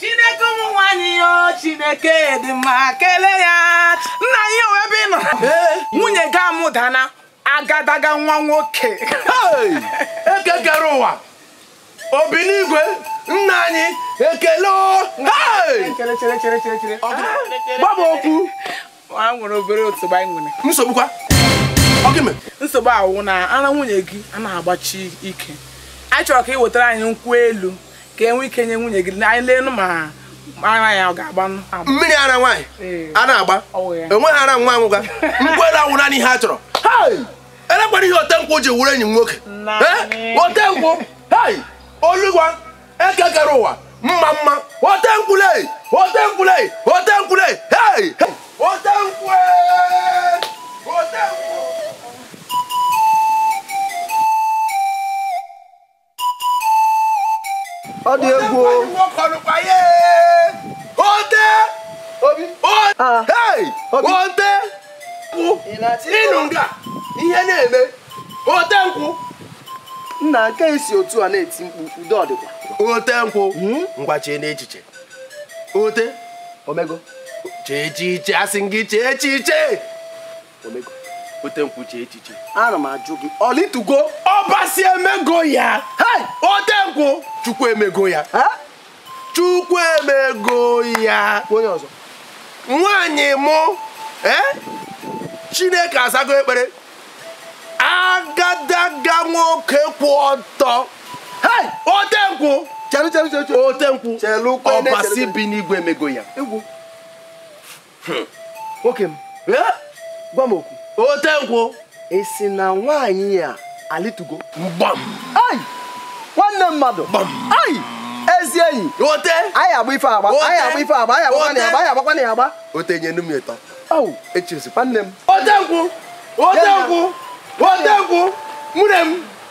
chineke ụmụ nwaanyị ya o, chineke dị mma kelee ya nna anyị he olee ebe ị nọ nwunye gị amụdana agadaga nwa nwoke eke kere ụwa obi n'igwe nna anyị ekele gbaba okwu a nwere obere nsogbu anyị nwere nsogbu kwa nsogbu a wụ na ara nwunye gị anaghị agbachi ike anyị chọrọ ka ị wetara anyị nkwụ elu ka e nwee ike nye nwunye gị ka anyị leenụ ma ara ya ọ ga-agbanụ mmiri ara nwaanyị anaghị agba enweghị ara nwa a nwụga nkwụ elu a wụ naanị ihe a chọrọ elekwara ihe otenkwụ ji wụrụ enyi m nwoke otenkwụ oluwa eke kere ụwa mma mma otenkwụ le otenkwụ le otenkwụ le otenkwụ otenkwụ ọ dị egwu ote obi ah. ote ị nọ nga ihe na-eme ote nkwụ nna nke i si otu a na-eti mkpu udo ọ dịkwa ote nkwụ hmm? ngwa cheenụ echiche ote o mego chee echiche asị m gị chee echiche ote nkwụ chee echiche ana m ajụ gị ọ lịtugo ọbasi emego ya ote nkwụ chukwu emego ya chukwu emego ya onye ọzọ nwaanyị mụ chineke azago ekpere agadaga nwoke kwụ ọtọ ote nkwụ ote nkwụ ọbasi bi n'igwe emego ya hmm. nwoke m gwa m okwu ote nkwụ ị sị na nwaanyị ya alịtugo gbam ai nwanne mmadụ gbam ai ezi enyi ote anyị agba ife agba anyị agba ife agba anyị agbakwa na agba anyị agbakwa na agba ote nyenụ m ịtọ au echezi nwanne m ote nkwụ ote nkwụ ote nkwụ nwunye m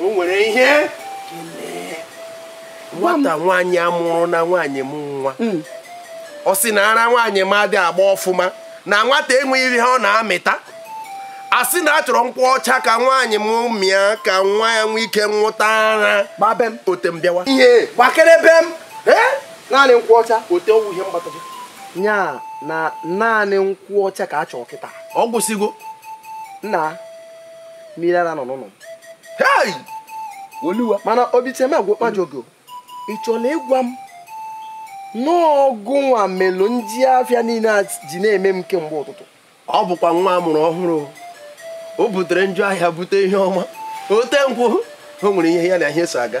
o nwere ihe nwata nwaanyị a mụrụ na nwaanyị m nwa hmm. ọ sị na ara nwaanyị m adị agba ọfụma na nwata enweghị ihe ọ na-amịta a sị na a chọrọ nkwụ ọcha ka nwaanyị m mịa ka nwa ya nwee ike nwụta ara gbaa be m ote m bịawa ihe gbakere be m naanị nkwụ ọcha ote ọ wụ ihe m gbata ya na naanị nkwụ ọcha ka a chọrọ kịta ọ gwụsịgo nna mmiri ara nọ n'ụlọ m oluwa mana obicheme agwụ kpajọọ gị ị chọrọ ịgwa m na ọ gụ nwa melu njọ afịa niile a ji na-eme m kemgbe ụtụtụ ọ bụkwa nwa a mụrụ ọhụrụ o butere njọ ahịa bute ihe ọma ote nkwụ o nwere ihe ya na ihe so aga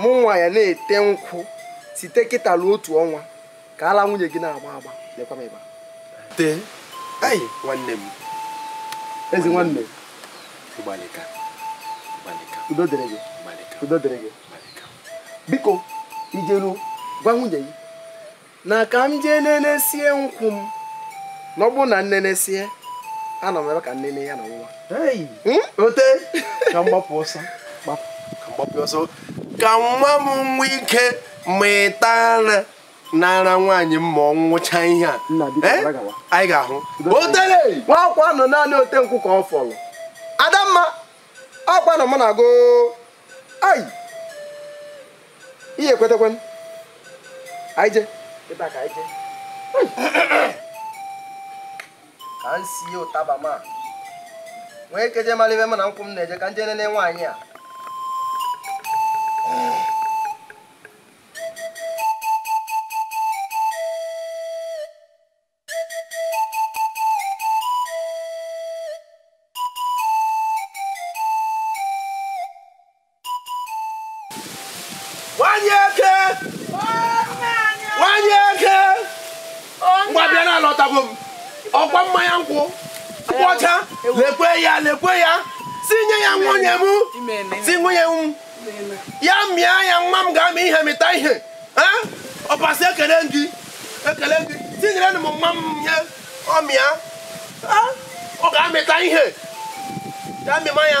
mụ nwa ya na-ete nkwụ site kịta ruo otu ọnwa ka ala nwunye gị na-agba agba lekwa m ebe a tee ayi nwanne m ezi nwanne gbalịka gbalịka udo dịrị gị udo dịrị gị biko i jeruo gwa nwunye gị na ka m jee nenesie nkwụ m na ọ bụrụ na m nenesie ana m abịa ka m nene ya na nwa hmm? ote ka m gbapụ ọsọ ka m gbapụ ọsọ ka nwa m nwee ike mịta ara n'ara nwaanyị m ma ọ ṅụcha ihe a eh? anyị ga-ahụ ote nwakwanụ naanị ote nkwụ ka ọ fọrọ adamma ọkwa na mụ na-agụ ai ihe ekwetekwe m anyị je ebe a ka anyị je ka m sie ụtaba ma nwee ike je mara ibe m na nkwụ m na-eje ka m jee nene nwaanyị a nwanyị eke nwanyị eke ngwa bịa na alọtago m ọkwa mmanya nkwụ nkwụ ọcha lekwe ya lekwe ya si nye ya nwunye m sị nwunye m ya mịa ya nwa m ga-amị ihe mịta ihe ọbasi ekele m gị ekele m gị tinyere m nwa m nye ọ mịa ọ ga-amịta ihe ya mịma ya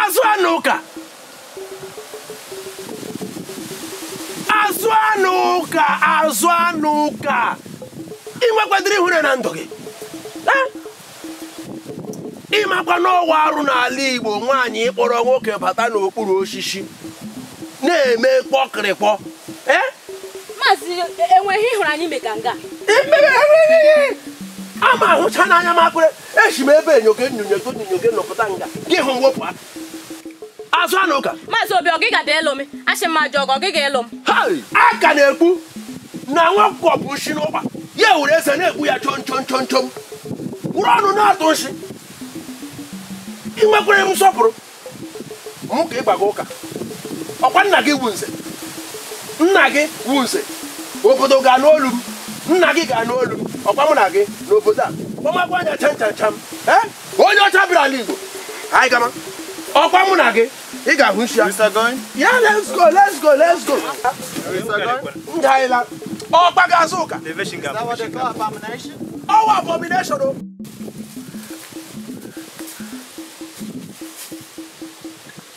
azụanụka azụanụka azụanụka ị nwekwadịrị ihere na ndụ gị ị makwa na ọ wụ arụ n'ala igbo nwaanyị ịkpọrọ nwoke bata n'okpuru osisi na-eme kpọkịrịkpọ eh? maazị e, o nweghị ihe ị hụrụ anyị mega nga ama ahụcha n'anya m ekwere eshi m ebe enyoke nnyonyoke nnyonyoke m pụta nga gị hụ m wepụ azụanụka maazị obi ọ gị ga elu m asị m ajọ ọgọ ọ gị ga elu m a ka na-ekwu na nwa ọkụkọ bu nshi n'ụgba ya were eze na-egbu ya chom chom chom chom wụrụ ọnụ na-atụ nshi ị nwekwara m nsọpụrụ mụ ka ị gbaga ụka ọkwa nna gị wu nze nna gị wu nze obodo ga-anụ olu m nna gị ga-anụ olu m ọkwa mụ na gị n'obodo a kpọmakwa anya chan chan cham ee eh? onye ọcha bịara ala igbo anyị gama ọkwa mụ na gị ị ga-ahụ nshi ya yeah let's go let's go let's go ngaịla ọkpa ga-azụ ụka ọ wụ abomination o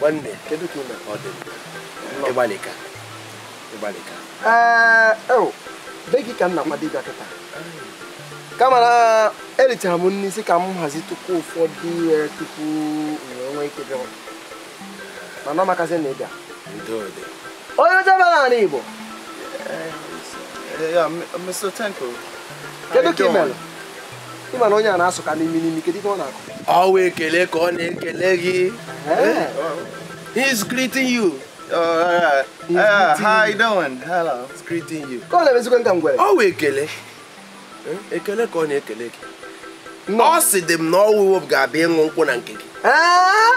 nwanne kedu ka ị me ọ dị ị gbalịka ị gbalịka be gị ka m na-akwado ịbịa kịta kama na erichara m nri sị ka m hazitụkwuo ụfọdụ ihe tupu nwee ike bịa mana ọ makazi na ị bịa onye ọcha bịara n'ala Igbo kedu ka ị mere ị ma na onye a na-asụ ka n'imi n'imi kedu ihe ọ na-akọ ọ wụ ekele ka ọ na-ekele gị eh? he's greeting you Uh, uh, how you doing? Hello. He's greeting you. Ka ọ na-emezikwanụ ka ngwere? Ọ wụ ekele. Eh? Ekele ka ọ na-ekele gị. Ọ sịdị m na ọwụwụ ga-abịa ịṅụ nkwụ na nke gị. Eh?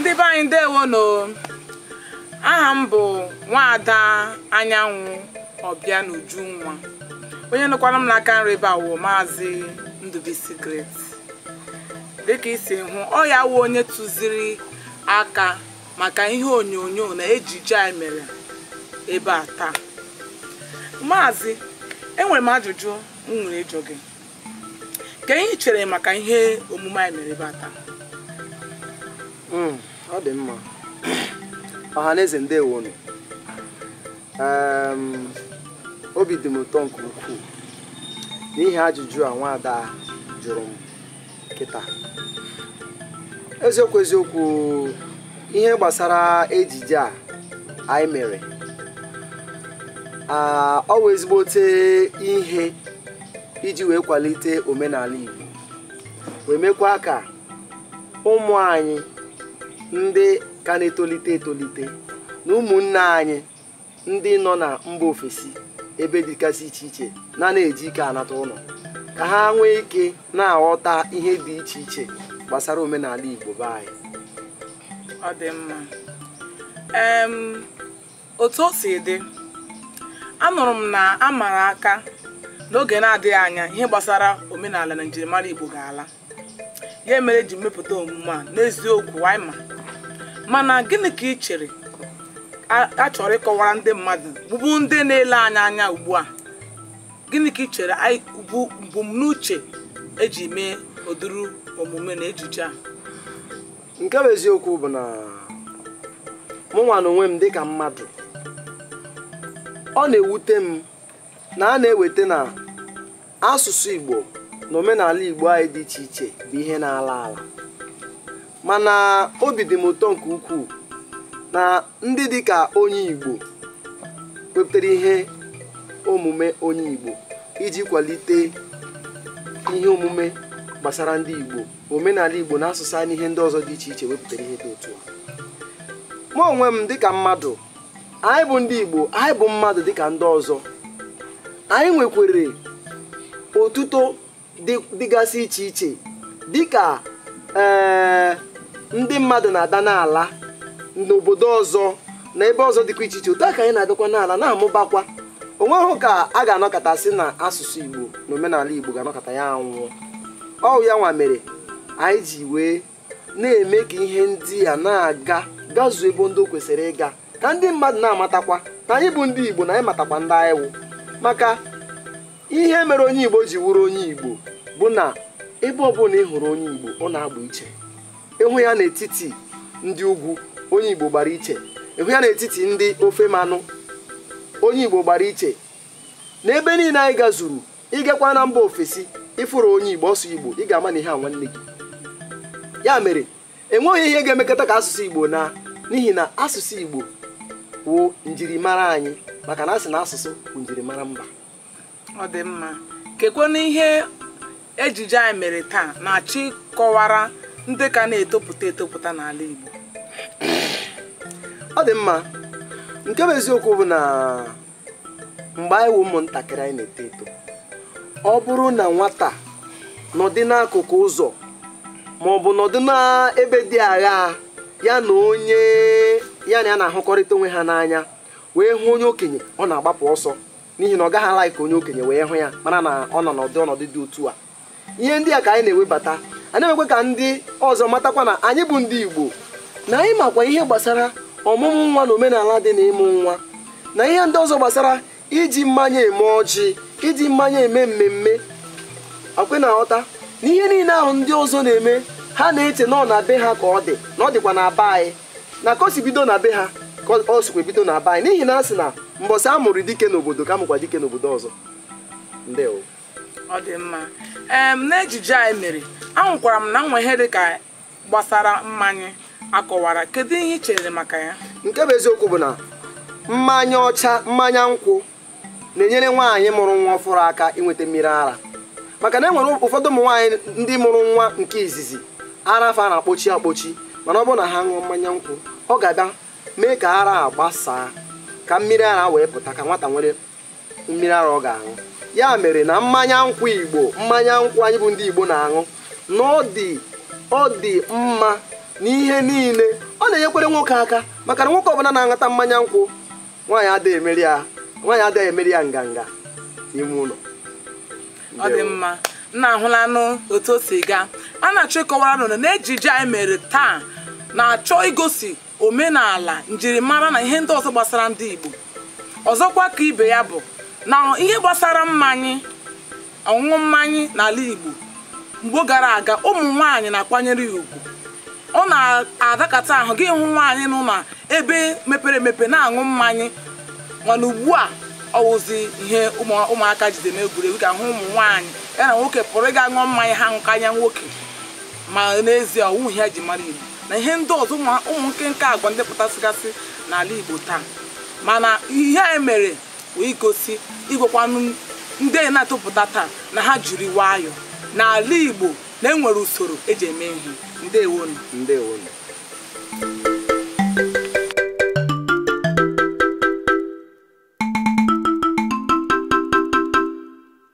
ndị be anyị ndewonụ aha m bụ nwaada anyanwụ ọbịanujunwa onye nọkwara m n'aka nri ebe a wụ maazị ndụbisi great dịka i si hụ ọ ya wụ onye tụziri aka maka ihe onyonyo na ejije anyị mere ebe a taa maazị enwere m ajụjụ m nwere ịjụ gị kee ihe i chere maka ihe omume anyị mere ebe a taa hmm, ọ dị mma ọha na eze ndewonu obi dị m ụtọ nke ukwuu n'ihi ajụjụ a nwaada jụrụ m kịta eziokwu eziokwu ihe gbasara ejije a anyị mere ọ wụ ezigbote ihe iji wee kwalite omenala Igbo wee mekwa ka ụmụ anyị ndị ka na-etolite etolite na ụmụnne anyị ndị nọ na mba ofesi ebe dịgasị iche iche na na-eji ike anata ụlọ ka ha nwee ike na-aghọta ihe dị iche iche gbasara omenala Igbo be anyị ọ dị mma Otu o si dị, anụrụ m na a mara aka na oge na-adịghị anya ihe gbasara omenala na njirimara Igbo ga-ala. Ya mere e ji mepụta omume a n'eziokwu anyị ma. Mana gịnị ka ị chere a chọrọ ịkọwara ndị mmadụ bụ bụ ndị na-ele anyị anya ugbu a? Gịnị ka ị chere bụ mbunuche eji mee ụdịrị omume na ejije a? nke bụ eziokwu bụ na mụ nwa na onwe m dịka mmadụ ọ na-ewute m na a na-eweta na asụsụ Igbo na omenala Igbo anyị dị iche iche bụ ihe na-ala ala mana obi dị m ụtọ nke ukwuu na ndị dịka onye Igbo wepụtara ihe omume onye Igbo iji kwalite ihe omume gbasara ndị Igbo omenala Igbo na asụsụ anyị ihe ndị ọzọ dị iche iche wepụtara ihe dị otu a mụ onwe m dịka mmadụ anyị bụ ndị Igbo anyị bụ mmadụ dịka ndị ọzọ anyị nwekwere otuto dịgasị iche iche dịka ee eh, ndị mmadụ na-ada n'ala n'obodo ọzọ na ebe ọzọ dịkwa iche iche otu a ka anyị na-adịkwa n'ala na-amụbakwa o nweghị ka a ga-anọkata sị na asụsụ igbo na omenala igbo ga-anọkata ya anwụọ ọ wụ ya nwa mere anyị ji wee na-eme ka ihe ndị a na-aga gazuo ebe ndị o kwesịrị ịga ka ndị mmadụ na-amatakwa na anyị bụ ndị igbo na anyị matakwa ndị anyị wụ maka ihe mere onye igbo ji wụrụ onye igbo bụ na ebe ọbụla ị hụrụ onye igbo ọ na-agba iche ị hụ ya n'etiti ndị ugwu onye igbo gbara iche ị hụ ya n'etiti ndị ofe mmanụ onye igbo gbara iche n'ebe niile anyị gazuru ị gakwa na mba ofesi ị fụrụ onye igbo ọ sụọ igbo ị ga-ama na ihe a nwanne gị ya mere enweghị ihe ga-emekata ka asụsụ igbo naa n'ihi na asụsụ igbo wụ njirimara anyị maka na a sị na asụsụ bụ njirimara mba ọ dị mma kekwanụ ihe ejije anyị mere taa na-achọ ịkọwara ndị ka na-etopụta etopụta n'ala Igbo ọ dị mma nke bụ eziokwu bụ na mgbe anyị wụ ụmụntakịrị anyị na-eto eto ọ bụrụ na nwata nọdị n'akụkụ ụzọ ma ọ bụ nọdụ n'ebe dị agha ya na onye ya na ya na-ahụkọrịta onwe ha n'anya wee hụ onye okenye ọ na-agbapụ ọsọ n'ihi na ọ gaghị a-like ka onye okenye wee hụ ya mara na ọ nọ n'ọnọdụ dị otu a ihe ndị a ka anyị na-ewebata a na-emekwa ka ndị ọzọ matakwa na anyị bụ ndị Igbo na anyị makwa ihe gbasara ọmụmụ nwa na omenala dị na ịmụ nwa na ihe ndị ọzọ gbasara iji mmanya eme ọjị iji mmanya eme mmemme ka e wee na-aghọta na ihe niile ahụ ndị ọzọ na-eme ha na-eche na ọ na be ha ka ọ dị na ọ dịkwa na be anyị na ka o si bido na be ha ka o sikwa bido na be anyị n'ihi na a sị na mbọsị a mụrụ dike n'obodo ka a mụkwa dike n'obodo ọzọ ndewo ọ dị mma ee n'ejije anyị mere ahụkwara m na e nwere ihe dị ka gbasara mmanya a kọwara kedu ihe ị chere maka ya nke bụ eziokwu bụ na mmanya ọcha mmanya nkwụ na-enyere nwaanyị mụrụ nwa ọfụrụ aka inweta mmiri ara maka na e nwere ụfọdụ ụmụ nwaanyị ndị mụrụ nwa nke izizi ara fa na-akpọchi akpọchi mana ọ bụrụ na ha ṅụọ mmanya nkwụ ọ ga-abịa mee ka ara a gbasaa ka mmiri ara wee pụta ka nwata nwere mmiri ara ọ ga-aṅụ ya mere na mmanya nkwụ igbo mmanya nkwụ anyị bụ ndị igbo na-aṅụ na ọ dị ọ dị mma n'ihe niile ọ na-enyekwere nwoke aka maka na nwoke ọbụla na-aṅụta mmanya nkwụ nwaanyị adịghị emere ya nganga n'ime ụlọ ọ dị mma unu ahụlanụ otu o si gaa a na-achọ ịkọwara unu na ejije anyị mere taa na-achọ igosi omenala njirimara na ihe ndị ọzọ gbasara ndị Igbo ọzọkwa ka ibe ya bụ na ihe gbasara mmanya ọṅụṅụ mmanya n'ala Igbo mgbe gara aga ụmụ nwaanyị na-akwanyere ya ugwu ọ na-arakata ahụ gị hụ nwaanyị nọ na ebe mepere emepe na-aṅụ mmanya mana ugbu a ọ wụzi ihe ụmụaka jiri eme egwuregwu ga-ahụ ụmụ nwaanyị ya na nwoke pụrụ ịga ṅụọ mmanya ha aṅụkarịa nwoke ma n'ezie ọ wụghị ihe e ji mara Igbo na ihe ndị ọzọ ụmụ nkenke agwa ndị pụtasịgasị n'ala Igbo taa mana ihe anyị mere wee gosi ịgwakwanụ ndị na-etopụta taa na ha jiri nwayọọ n'ala Igbo na enwere usoro eji eme ihe ndewonu ndewonu